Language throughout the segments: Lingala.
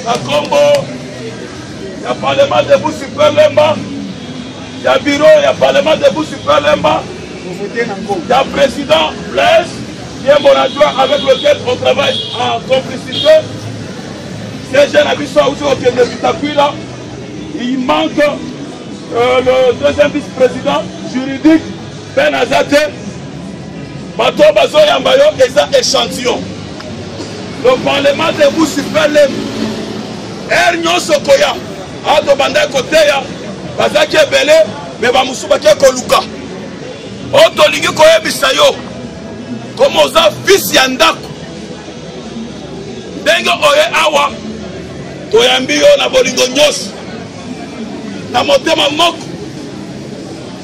na nkombo ya parlement de busi pelemba ya biro ya parlement de busi pelemba ya président blaise yembo na joi avec lequel on travaille en complicité ces jeunes na biso auti kokende bitakwila Il manque euh, le deuxième vice-président juridique Ben Azate. Bato bazoyamba yo eza échantillon. Le parlement de vous super lem. Heure nyonso koya. Ato bandaki koteya bazaki ebele me bamosusu bake koluka oyo tolingi koyebisa yo koma oza fisi ya ndako ndenge oye awa toyambi yo na bolingo nyonso na motema moko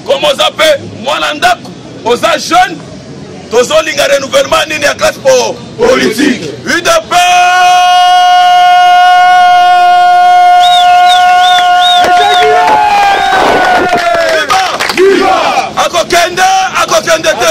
koma oza mpe mwana ndako oza jeune tozolinga renouvellement nini ya classe po politique udp akokende akokende te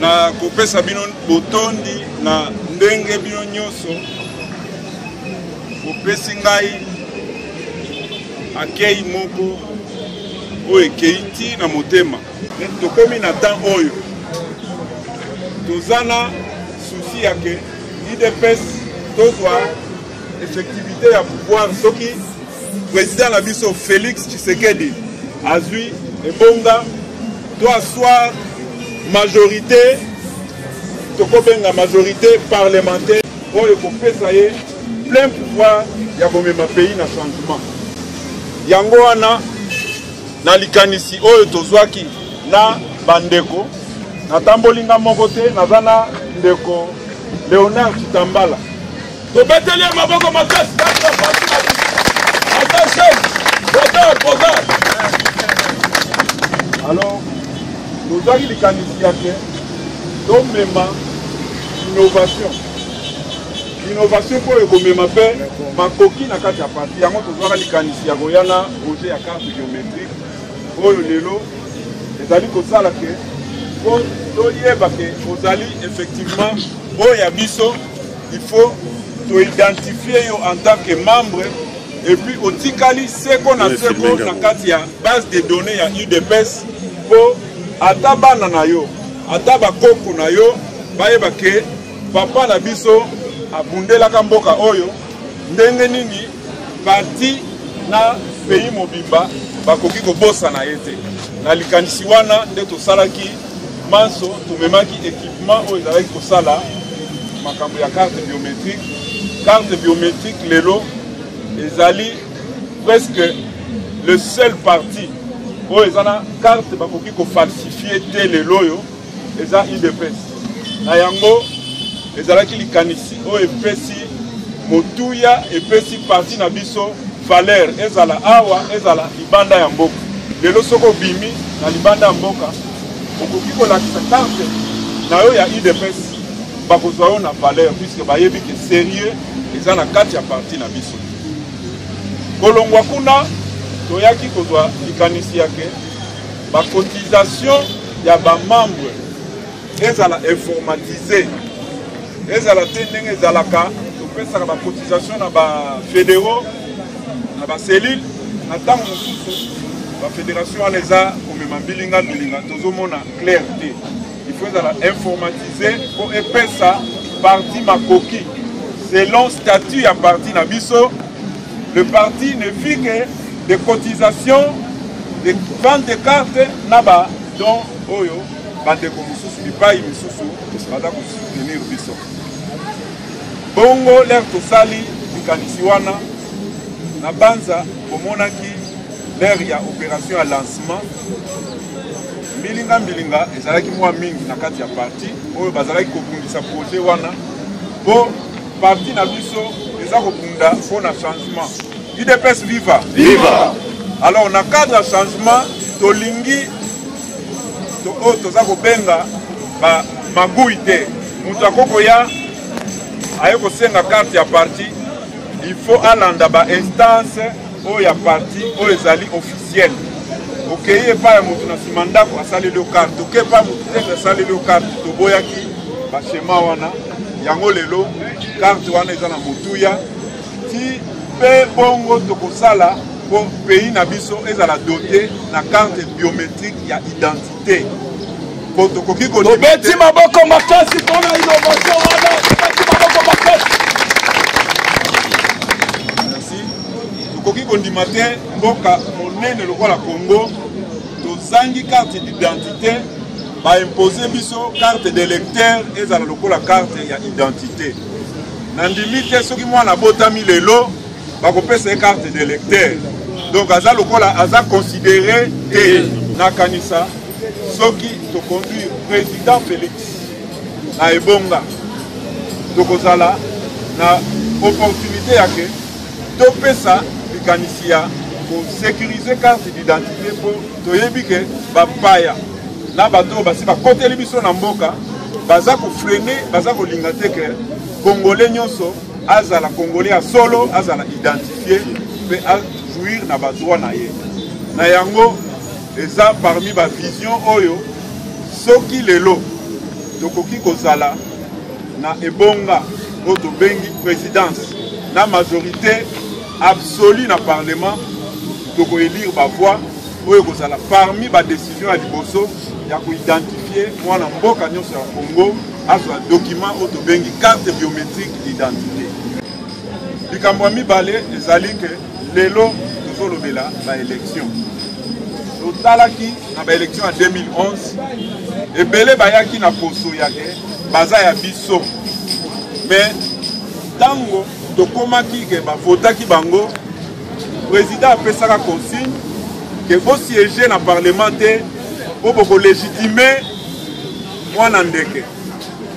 na kopesa bino botondi na ndenge bino nyonso bopesi ngai akei moko oyo ekei ti na motema tokomi na temps oyo toza na susi ya ke idps tozwa effectivité ya pouvoir soki président na biso félix tshisekedi azwi ebonga to aswar majorité tokobenga majorité parlementaire oyo ekopesa ye plein pouvoir ya komema pays na changement yango wana na likanisi oyo tozwaki na bandeko natamboli nga moko te naza na ndeko léonard kitambala tobeteli ye maboko makasi kaka pasi na biso ata chef bogar bogar alors tozwaki likanisi ya ke tomema innovation innovation mpo ekomema mpe makoki na kati ya parti yango tozwaka likanisi ya koya na projet ya carte biométrique oyo lelo ezali kosala ke mpo toyeba ke ozali effectivement oyo ya biso il faut to identifier yo en tant que membre et puis otikali seko na seko na kati ya base de données ya udps mpo ata bana na yo ata bakoko na yo bayeba ke papa na biso abundelaka mboka oyo ndenge nini parti na pays mobimba bakoki kobosana ye te na likanisi wana nde tosalaki manso tumemaki ekipema oyo ezalaki kosala makambo ya carte biométrique carte biométrique lelo ezali presque le seul parti oyo eza na carte bakoki kofalsifie te lelo oyo eza udps na yango ezalaki likanisi oyo epesi motuya epesi parti na biso valeur ezala awa ezala libanda ya mboka lelo soki obimi na libanda ya mboka okoki kolakisa carte na yo ya udps bakozwa yo na valeur puisque bayebi ke serieux eza na kati ya parti na biso kolongwa kuna toyaki kozwa likanisi yake bacotisation ya bamembre ezala informatise ezala te ndenge ezalaka topesaka bacotisation na bafédéraux na bacellule na ntango mosusu bafédération wana eza komema mbilinga mbilinga tozomona clair te ifo ezala informatise mpo epesa parti makoki selon statut ya parti na biso le parti ne fit que des cotisations des ventes de cartes na badon oyo bandeko mosusu bipai misusu baza kosoutenir biso bongo lere tosali likanisi wana na banza bomonaki lere ya opération ya lancement mbilinga mbilinga ezalaki mwa mingi na kati ya parti oyo bazalaki kobundisa projet wana mpo parti na biso eza kobunda mpo na changement udps viva viva alors na cadre ya changement tolingi to oyo oh, toza kobenga ba magui te moto akoki koya aye kosenga karte ya parti il faut alanda ba instance oyo ya parti oyo ezali officiel okei epai ya moto na nsima ndako asaleli yo karte okei epai ya moto tete asaleli yo karte toboyaki bashema wana yango lelo karte wana eza na motuya ti mpe bongo tokosala mpo pays na biso ezala dote na carte biométrique ya identité mpo tokoki kobeti maboko makasi mpona innovation wana tobeti maboko makasi merci tokoki kondima te mboka monene lokola congo tozangi carte d'identité baimpose biso carte d'électeur ezala lokola carte ya identité nandimi te soki mwana abotami lelo bakopesa ye carte de lecteur donc aza lokola aza considere te nakanisa soki toconduire président félix na ebonga tokozala na opportunité ya ke topesa likanisi ya kosécurise carte d'identité mpo toyebi ke bapaya na bato oyo basi bakoteli biso na mboka baza kofrene baza kolinga te ke kongole nyonso azala congolais ya solo azala identifie mpe ajouir na badroit na ye na yango eza parmi bavision oyo soki lelo tokoki kozala na ebonga oyo tobengi présidence na majorité absolue na parlement tokoelire bavoix oyo ekozala parmi badécision ya liboso ya koidentifie mwana mboka nyonso ya congo azwa document oyo tobengi carte biométrique d'identité likambo ya mibale ezali ke lelo tozolobela baélection totalaki na baélection ya 2011 ebele bayaki na poso ya ke baza ya biso me ntango tokomaki ke bavotaki bango président apesaka consigne ke bosiége na parlement te mpo bokolegitime mwana ndeke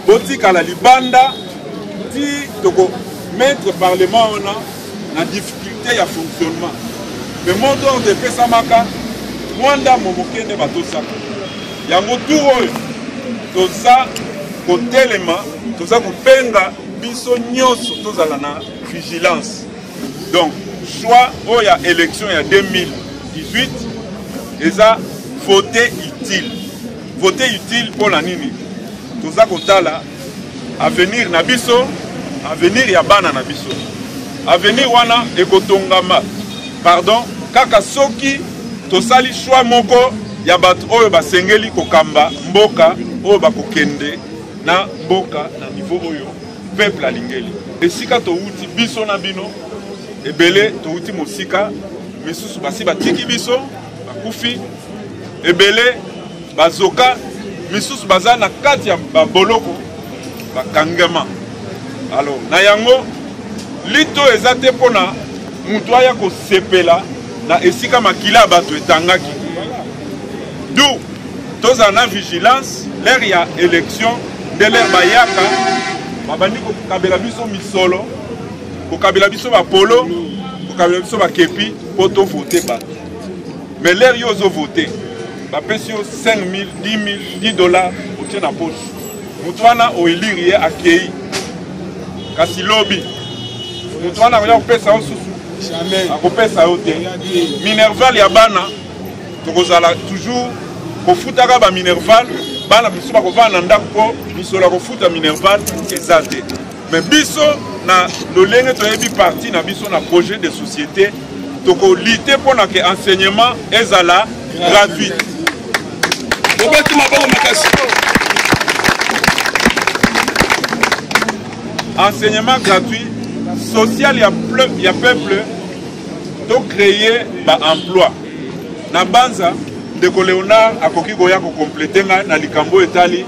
botikala libanda ti toko mettre parlement wana na difficulté ya fonctionnement mais mot d'ordre epesamaka mwa ndambo moke nde batosaka yango tour oyo toza kotelema toza kobenga biso nyonso tozala na vigilance donc choix oyo ya élection ya 2018 eza vote utile Vote utile mpo na nini? Toza kotala avenir na biso, avenir ya bana na biso. Avenir wana ekotongama pardon kaka soki tosali choix moko ya bato oyo basengeli kokamba mboka oyo bakokende na mboka na niveau oyo peuple alingeli esika towuti biso na bino ebele towuti mosika misusu basi batiki biso bakufi ebele bazoka misusu baza na kati ya baboloko bakangama alo na yango lito eza te mpo na moto aya kosepela na esika makila ya bato etangaki du tozala na vigilance lere ya élection nde lere bayaka babandi kokabela biso misolo kokabela biso bapolo kokabela biso bakepi po to vote bato mais lere yo ozo vote bapesi yo 5 000 10 000 10 dollars otie na poche moto wana oelire ye akei kasi lobi moto wana akoya kopesa yo susu akopesa yo te minerval ya bana tokozala toujours kofutaka baminerval bana biso bakovanda na ndako mpo misolo ya kofuta minerval eza te Mais biso na lolenge toyebi parti na biso na projet de société tokolite mpo na ke enseignement ezala gratuit obeti maboko makasi enseignement gratuit social ya, ya peuple tocreye baemploi na banza ndeko léonard akoki koya kokomplete ngai na likambo etali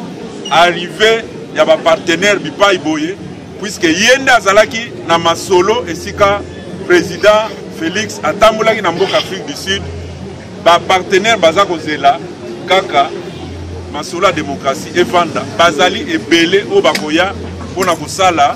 arrive ya ba partenaire bipai boye puisque ye nde azalaki na masolo esika président Félix atambolaki na mboka Afrique du Sud ba partenaire baza kozela kaka masolo ya démocratie evanda bazali ebele oyo bakoya mpo na kosala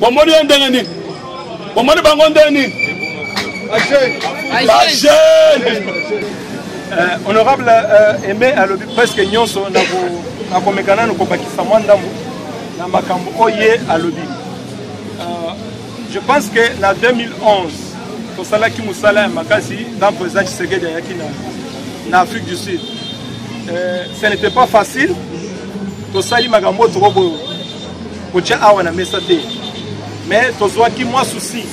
bomoni ye ndenge nini bomoni bango ndenge nini bajeune eh, honorable eh, aime alobi presque nyonso nakomeka nano kobakisa mwa ndambo na makambo oyo ye alobi eh, je pense que na 2011 tosalaki mosala ya makasi ntango président tshisekedi ayaki na afrique du sud ce n'était pas facile tosali makambo oyo tokoboyo kotya awa na mesa te mais tozwaki mwa souci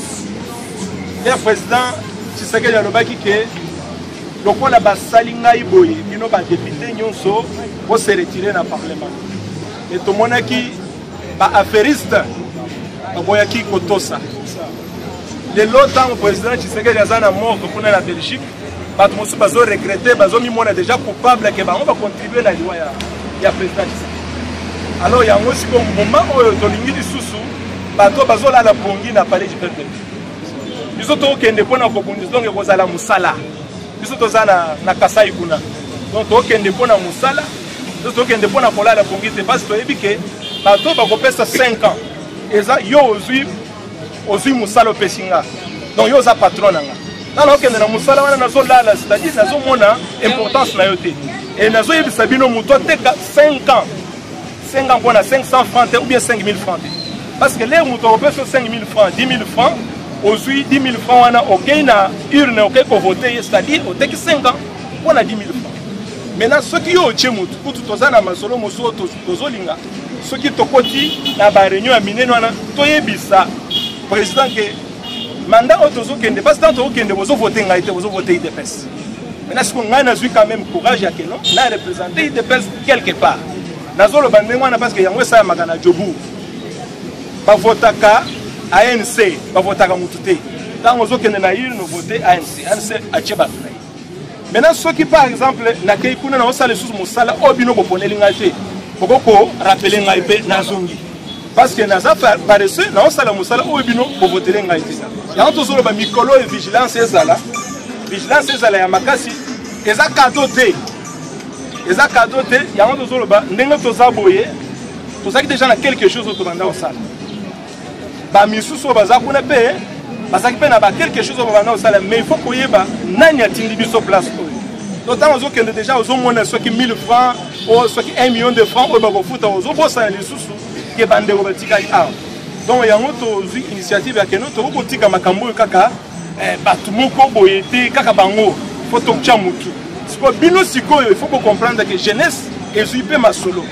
ya président tshisekedi alobaki ke lokola basali ngai boye bino badepute nyonso bose retire na parlement e tomonaki baaffairiste baboyaki kotosa lelo ntango président tshisekedi aza na morgue kuna na belgique bato mosusu bazo regrete bazomimona déjà coupable ke bango bacontribue na liwa ya, ya président tshisekedi alors yango siko mbuma oyo tolingi lisusu bato bazolala pongi na palais du peuple biso tokokende mpo na kobundisa donc ekozala mosala biso toza na, na kasai kuna donc tokokende mpo na mosala biso tokokende mpo na kolala pongi te parce toyebi ke bato bakopesa 5 ans eza yo ozwi ozwi mosala opesi nga donc yo oza patron na nga nga nakokende na mosala wana nazolala c'est-à-dire nazomona importance na yo te e nazoyebisa bino moto ateka 5 ans 5 ans mpo na 500 francs te ou bien 5000 francs te parce que lere moto akopesa 5000 francs 10 000 francs ozwi 10 000 francs wana okei na urne okei kovote ye c'est-à-dire oteki 5 ans mpo na 10 000 francs maintenant soki yo otye motu kutu toza na masolo mosusu tozolinga soki tokoti na ba réunion ya minene wana toyebisa président ke mandat oyo tozokende parce ntango tokokende bozovote ngai te bozovote idps maintenant siko ngai nazwi quand même courage ya keno na représente idps quelque part nazoloba ndenge wana parce que yango esalamaka na jobour bavotaka anc bavotaka motu te ntango ozokende na urne vote anc anc atie bato na ye maintenant soki par exemple nakei kuna naosala lisusu mosala oyo bino boponeli ngai te boko korapele ngai mpe nazongi parce que naza paresseux naosala mosala oyo bino bovotele ngai te yango tozoloba mikolo oyo vigilance ezala vigilance ezala ya makasi eza kado te eza kado te yango tozoloba ndenge toza boye tozalaki deja na quelque chose oyo tobanda kosala bamisusu oyo baza kuna mpe bazalaki mpe na bakelke chose oyo babanda kosala mais il faut koyeba nani atindi biso place oyo donc ntango ozokende déjà ozomona soki 1000 francs o soki 1 million de francs oyo bakofuta ozobosana lisusu ke bandeko batikali awa donc yango tozwi initiative ya keno tokoki kotika makambo oyo kaka eh, bato moko boye te kaka bango po tokotya motu sikoyo bino sikoyo ifo kocomprendre ke jeunesse ezwi mpe masolo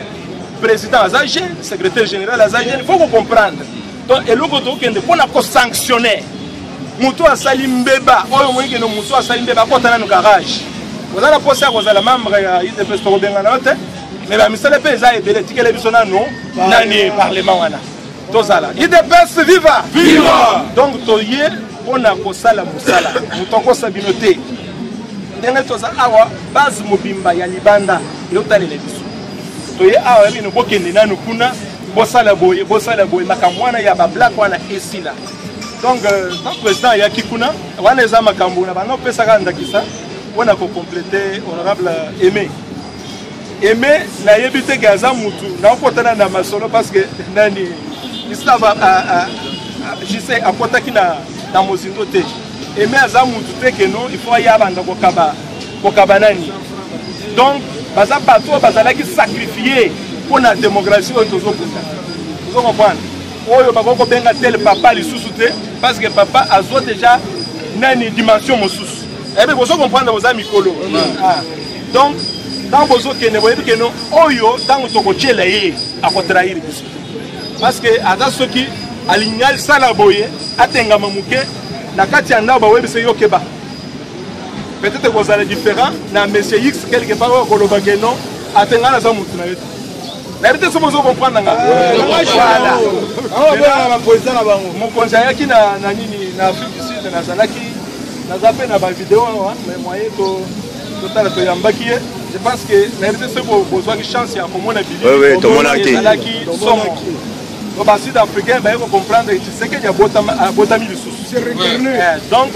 président aza jeune secrétaire général aza jeune ifo kocomprendre donc eloko tokokende mpo na kosanctionner moto asali mbeba oyo omoni kende moto asali mbeba akota nanu garage oza na mposa ya kozala membre ya udps tokobengana yo te me bamisala mpe eza ebele etikele biso nanu nani parlement wana tozala idps viva viva donc toye mpo na kosala mosala moto akosa bino te ndenge toza awa base mobimba ya libanda eotalela biso toye awa ya bino bokende nanu kuna bosala boye bosala boye makambo wana ya bablak wana esila donc euh, tant président ayaki kuna wana eza makambo na bana opesaka ndakisa mpo na kokomplete honorable aimé eme nayebi te ke aza mutu naokotana na masolo parce que nani isaba jise akotaki na, na mozindo te eme aza mutu te keno il faut aya abanda kokaba kokaba nani donc baza bato oyo bazalaki sacrifie mpo na démocratie oyo tozokuta ozo comprendre oyo bakoki kobenga tele papa lisusu te parce que papa azwa déjà nani dimension mosusu ebe eh bozo comprendre boza mikolo ah. donc ntango bozokende boyebi keno oyo ntango tokotyela ye akotrahire biso parce que aza soki alingi asala boye atengama moke na kati ya ndako bawebisa yo keba peut-être ekozala différent na monsieur x quelque part oyo akoloba ke non atenga naza motu na ye te nayebi te soki ozo comprendre nga mokonzi ayaki na nini na afrique du sud nazalaki naza mpe na bavideo awa mais moyen to totala toyambaki ye je pense que na rete soki bozwaki chance ya komona biliezalaki somo po basud africain baye kocomprendre tshisekedi abotami lisusu eh, donc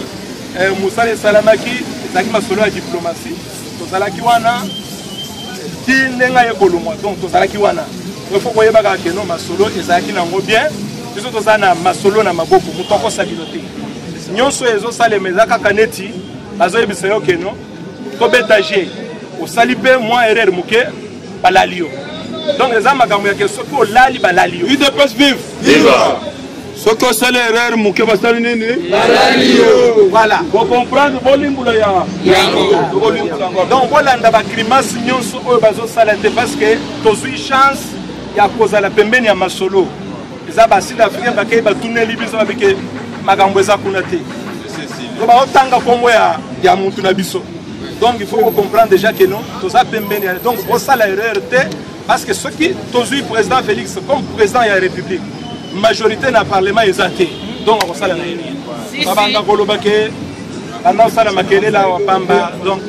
eh, mosala esalamaki ezalaki masolo ya diplomatie tozalaki wana ti ndenge aye kolongwa donc tozalaki wana ifo koyebaka keno masolo ezalaki nango bien biso toza na masolo na maboko moto akosabino te nyonso ezosalema eza kaka neti bazoyebisa yo keno tobeta je osali mpe mwa erreur moke balali yo donc eza makambo ya ke soki olali balali yo udps vive viva soki osali erreur moke basali nini balali yo voilà bocomprendre bolimbola ya donc bolanda bagrimace nyonso oyo bazosala te parce que tozwi chance ya kozala pembeni ya masolo eza ba sud africain bakei batuneli biso babike makambo eza kuna te to baotanga nkombo ya, ya mutu na biso donc il faut kocomprendre déjà que non toza pembeni ya donc osala erreur te parce que soki tozwi président félix comme président ya république majorité na parlement eza te donc akosala na ye nini babanda koloba ke banda kosala makelele awa pamba donc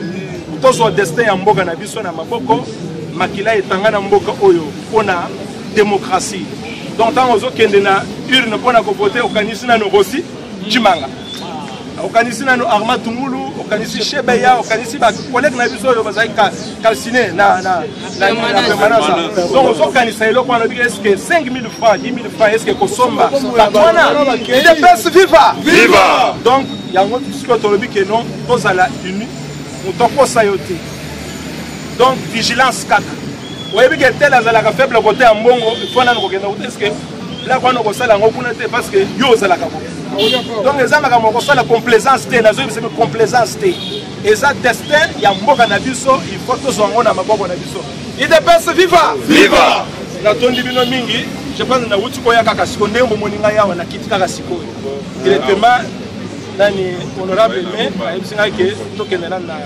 tozwa destin ya mboka na biso na maboko makila etanga na mboka oyo mpona democratie donc ntango ozokende na urne mpo na kovote okanisi nano rosi cimanga okanisi nano arma tungulu okanisi shebeya okanisi bakolege na biso oyo bazali calcine na permanence donc ozokanisa eloko wana obiki eske 5000 franc 10000 franc eske kosomba bato wana idps viva viva donc yango sikoyo tolobi ke non tozala uni moto akosa yo te donc vigilance kaka oyebi ke tel azalaka faible kote ya mbongo fo nano kokenda kote eske bilaka wana okosala yango kuna te parce que yo ozalaka bo donc eza makambo okosala complaisance te nazoyebisa mpe complaisance te eza destin ya mboka na biso il faut tozwa yango na maboko na biso idps viva viva natondi bino mingi je pense nauti koya kaka sikoyo ndenge bomoni ngai awa nakiti kaka sikoyo directement nani honorable me ayebisi ngai ke tokende nani na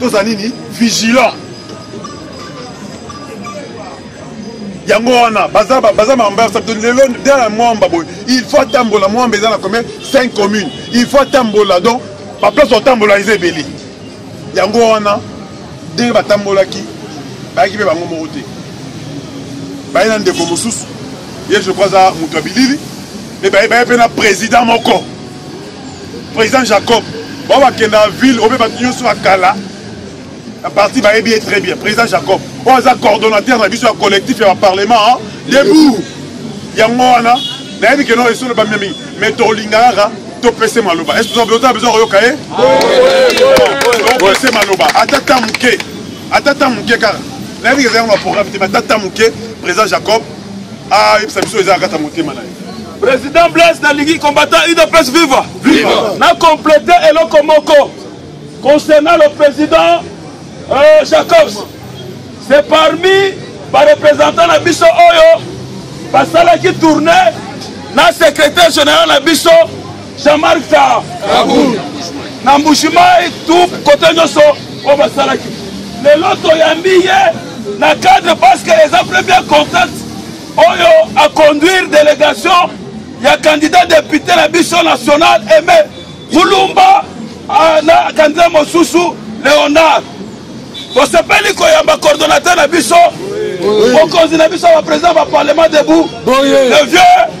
toza nini vigilant yango wana baza baza mambarsa lelo nde na mwamba boye il faut atambola mwamba eza na combien 5 commune il faut atambola donc baplace otambola eza ebele yango wana ndenge batambolaki bayaki mpe bango moko te baye na ndeko mosusu ye je crois aza moto ya bilili me baye baye mpe na président moko président jacob bao bakenda na ville obe bato nyonso ya kala na parti bayebi ye très bien président jacob oyo aza coordonnateur na biso ya collectif ya baparlement debout yango wana nayebi keno esolo bamia mingi mais tolingaka topese maloba ese oza besoin koyoka ye topese maloba ata ta moke ata ta moke kaka nayebi eza yango na programme te mais ata ta moke président jacob Ah, yebisa biso eza kata motema na ye. Président Blaise nalingi combattant UDPS viva. Viva. Na compléter eloko moko concernant le président euh, Jacobs. C'est parmi ba représentants na biso oyo basalaki tournée na secrétaire général na biso Jean-Marc Tah Kabund na Mbujimayi tout kote nyonso oyo basalaki lelo toyambi ye na cadre parce que eza premier contact oyo aconduire délégation ya candidat député na biso national aime kulumba ah, na candidat mosusu léonard tosepeli koyamba coordonnateur na biso mokonzi na biso ya baprésident ya baparlement debout le vieux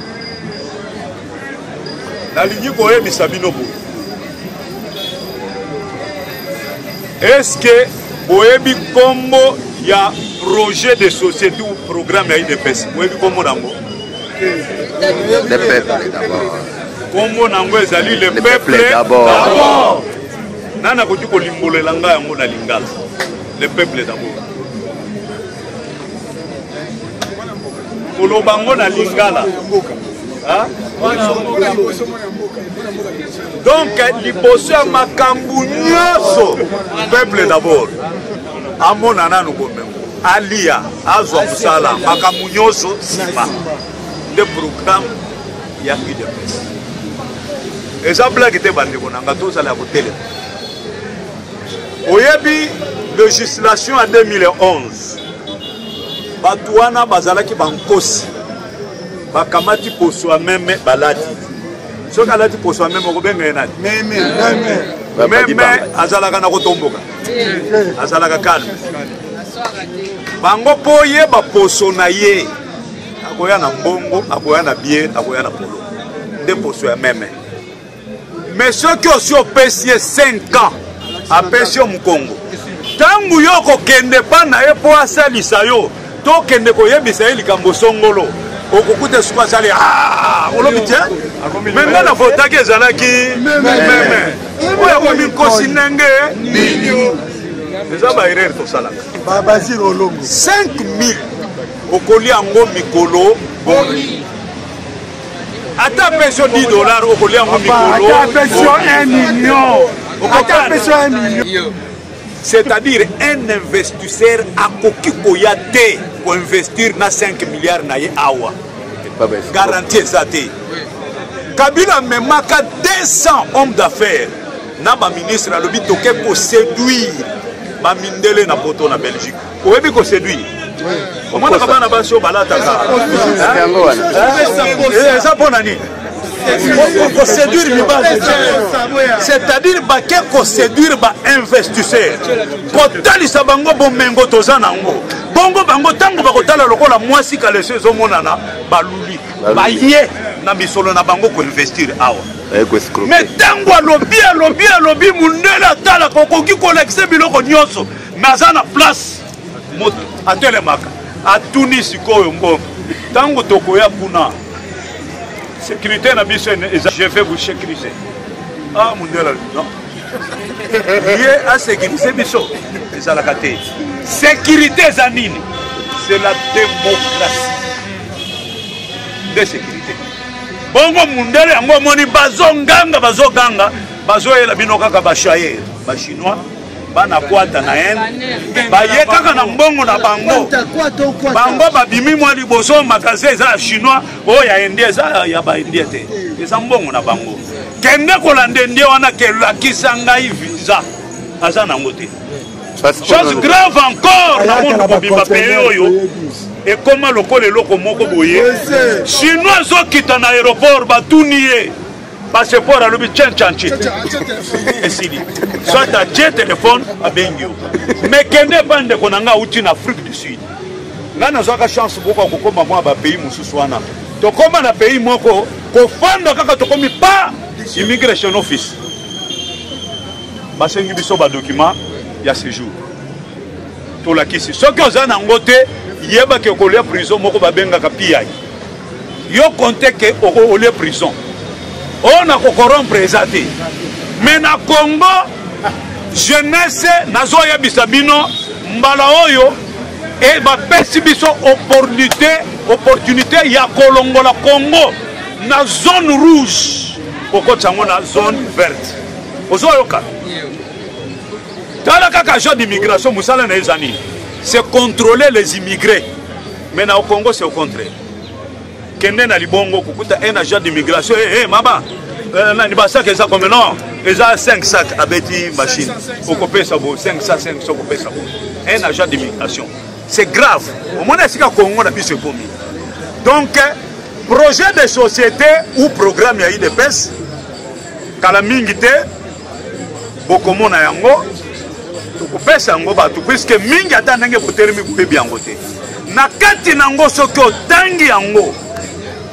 nalingi koyebisa bino boye eske boyebi nkombo ya projet de société ou programme ya idps boyebi nkombo nango nkombo nango ezali le peuple d'abord nani akoki kolimbolela ngai yango na lingala le peuple d'abord koloba ngo na lingala donc liboso ya makambo nyonso peuple d'abord amona nanu bomengo alia azwa mosala makambo nyonso nsima nde programme ya udps eza blage te bandeko na nga tozala ya kotelema oyebi legislation ya 2011 bato wana bazalaki bankosi bakamati poso ya meme balati soki alati poso ya meme okobenga ye nani meme azalaka na kotomboka azalaka kalme bango mpo oyeba poso na ye akoya na mbongo akoya na bie akoya na polo nde poso ya meme mais soki osi opesi ye 5 ans apesi yo mokongo ntango yo okokende mpa na ye mpo asalisa yo tokende koyebisa ye likambo songolo okokuta suku asali ah, olobi te me ngai na votaki ezalaki meme oyo akomi nkosi ndenge eza baerere tosalaka 5000 okolia yango mikolo boni ata apesi yo 10 dollar okolia yango mikoloata apesi yo 1 million ata apesi yo 1 million c'est-à-dire un investisseur akoki koya te koinvestir na 5 milliard na ye awa garantie eza te kabila amemaka 200 homme d'affaires na baministre alobi toke koseduire bamindele na poto na belgique oyebi ko séduire omonaka bana basi oyo balataka eza mpo na nini koséduire mibali c'est-à-dire bake koséduire bainvestisseur kotalisa bango bomengo toza na yango bongo bango ntango bakotala lokola mwasi kalesi ezomonana baluli baye na misolo na bango koinvestir awa me ntango alobi alobi alobi mondele atalaka okoki kolakisa biloko nyonso naza na place moto atelemaka atuni sikoyo mbongo ntango tokoya kuna sécurité na biso eza je vais vous sécuriser ah mundela non ye asécurise biso ezalaka te sécurité eza nini c'est la démocratie nde sécurité bongo mundele yango omoni bazonganga bazoganga bazoyela bino kaka bashayer bachinois bana kwata na ene baye kaka na mbongo na bango bango babimi mwa liboso magasin eza ya chinois oyo ya indien eza ya baindien te eza mbongo na bango kende kolanda indien wana kelakisa ngai visa aza nango te chose grave encore na monde mobimba peye oyo ekoma lokola eloko moko boye chinois ezokita na aéroport batuni ye passeport alobi cencanci esili soit atie telefone abengi yo me kende epa ndeko na ngai auti na afrique du sud ngai nazwaka chance boka kokoma mwa bapays mosusu wana tokoma na pays moko kofanda kaka tokomi pa immigration office basengi biso badokima ya séjour tolakisi soki oza na yango te yebaki okolia prison moko babengaka piyaki yo compte ke olie prison oyo oh, na kokorompre eza te mais na congo jeunesse nazoyebisa bino mbala oyo e bapesi biso opportunité opportunité ya kolongola congo na zone rouge kokotisa yango na zone verte ozoyoka tala kaka agent d'immigration mosala na ye eza nini c'est contrôler les immigrés Mais na Congo c'est au contraire. Kende na libongo kukuta un agent d'immigration. Eh hey, hey, mama. Euh, nani ba sac eza combien non? Eza 5 sacs abeti machine. Okopesa bo 5 sacs 5 sacs okopesa bo. Un agent d'immigration. C'est grave. Au moins esika Congo na biso ekomi. Donc projet de société ou programme ya IDPS kala mingi te bokomona yango tokopesa yango bato puiske mingi ata ndenge botelemi koyebi yango te na kati na yango soki otangi yango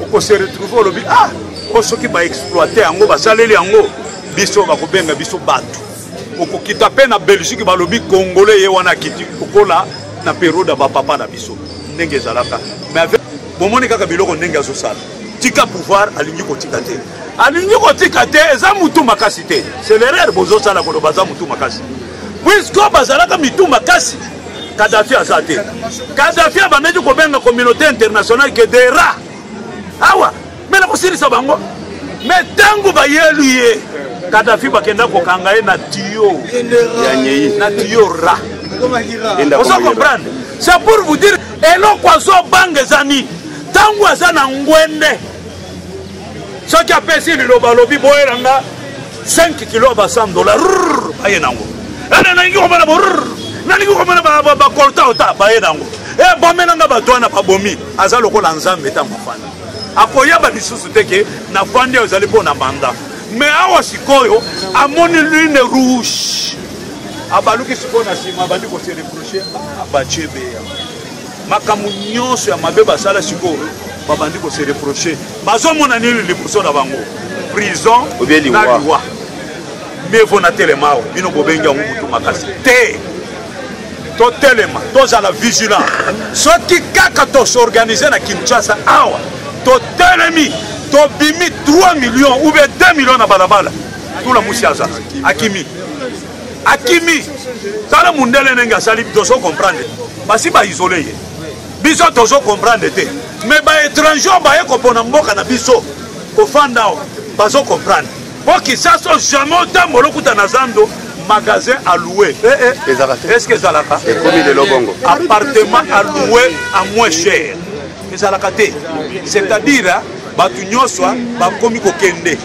okose retrouve olobi ah o soki baexploite yango basaleli yango biso bakobenga biso bato okokita mpe na belgique balobi congolais ye wana akiti lokola na periode ya bapapa na biso ndenge ezalaka mais avec bomoni kaka biloko ndenge azosala tika pouvoir alingi kotika te alingi kotika te eza mutu makasi te c'est l'erreur bozosala koloba aza mutu makasi puisque bazalaka mitu makasi kadafi aza te kadafi abandaki kobenga communauté internationale ke des rats awa me na kosilisa bango me ntango bayelu ye kadafi bakenda kokanga ye na tiyo na tiyo ra ozo comprendre c'est pour vous dire eloko azobanga eza nini ntango aza na ngwende soki apesi liloba alobi boyela nga 5 kilo ya ba 100 dollar baye nango ene nalingi komona bo nalingi komona bakolta ota baye nango e eh, bomela nga bato wana babomi aza lokola nzambe ntango afanda akoyeba lisusu te ke nafandi oyo ezali mpo na manda me awa sikoyo amoni lune rouge abaluki sikoyo na nsima abandi kosereproche abaciebeya makambo nyonso ya mabe basala sikoyo babandi kose reproche bazomona nini liboso na bango prison na liwa mevo na telema awa bino bobengi yango motu makasi te totelema tozala vigilant soki kaka tosorganize na kinshasa awa totelemi tobimi 3 millions ou bien 2 millions na balabala tula musi aza akimi akimi tala mundele ndenge asali tozo comprendre basi baisole ye biso tozo comprendre te me baétranger baye kopona mboka na biso kofanda awa bazo comprendre mpo kisaso jamais otambola okuta na zando magasin alloué eh, eh. est ce que ezalaka appartement alloué à moins cher ezalaka te c'est-à-dire hein, bato nyonso hein, bakomi kokende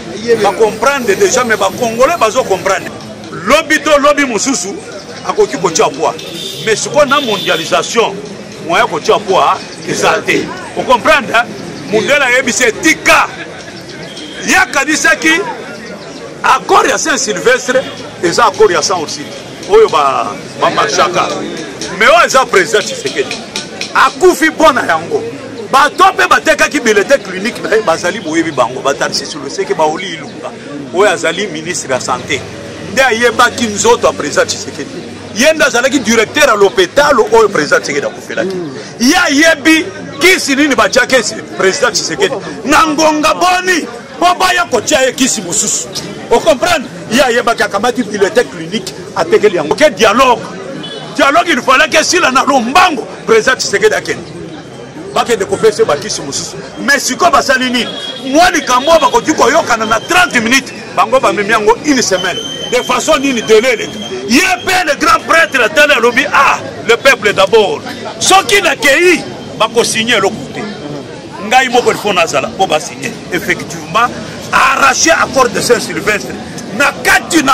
bacomprendre déjà mais bacongolais bazo comprendre lobi to lobi mosusu akoki kotya pwa mais sikoyo na mondialisation moyen kotya pwa eza te ocomprendre mundele ayebisi etika ye akanisaki accord ya saint sylvestre eza accord ya saint ursile oyo bamarchaka me oyo aza président tshisekedi akufi mpo na yango bato mpe batekaki bilete clinique na ye bazali boyebi bango batarsisi loseke baoli ilunga oyo azali ministre ya sante nde ayebaki nzoto ya président tshisekedi ye nde azalaki directeur ya lopitalo oyo président tshisekedi akufelaki ye ayebi kisi nini batiaki président tshisekedi na ngonga boni mpo baya kotia ye kisi mosusu ocomprendre ye ayebaki akamati bulletin clinique atekeli yango ke dialogue dialogue il falaki esila na lombango président tshisekedi akende bakende kopesa bakisi mosusu mais sikoyo basali nini mwa likambo oyo bakoki koyokana na 30 minutes bango bamemi yango une semaine de façon nini dele eleka ye mpe le grand prêtre atali alobi ah le peuple d'abord soki nakei bakosigne eloko te ngai moko il faut nazala mpo basigne effectivement arrache accord de saint sylvestre na kati na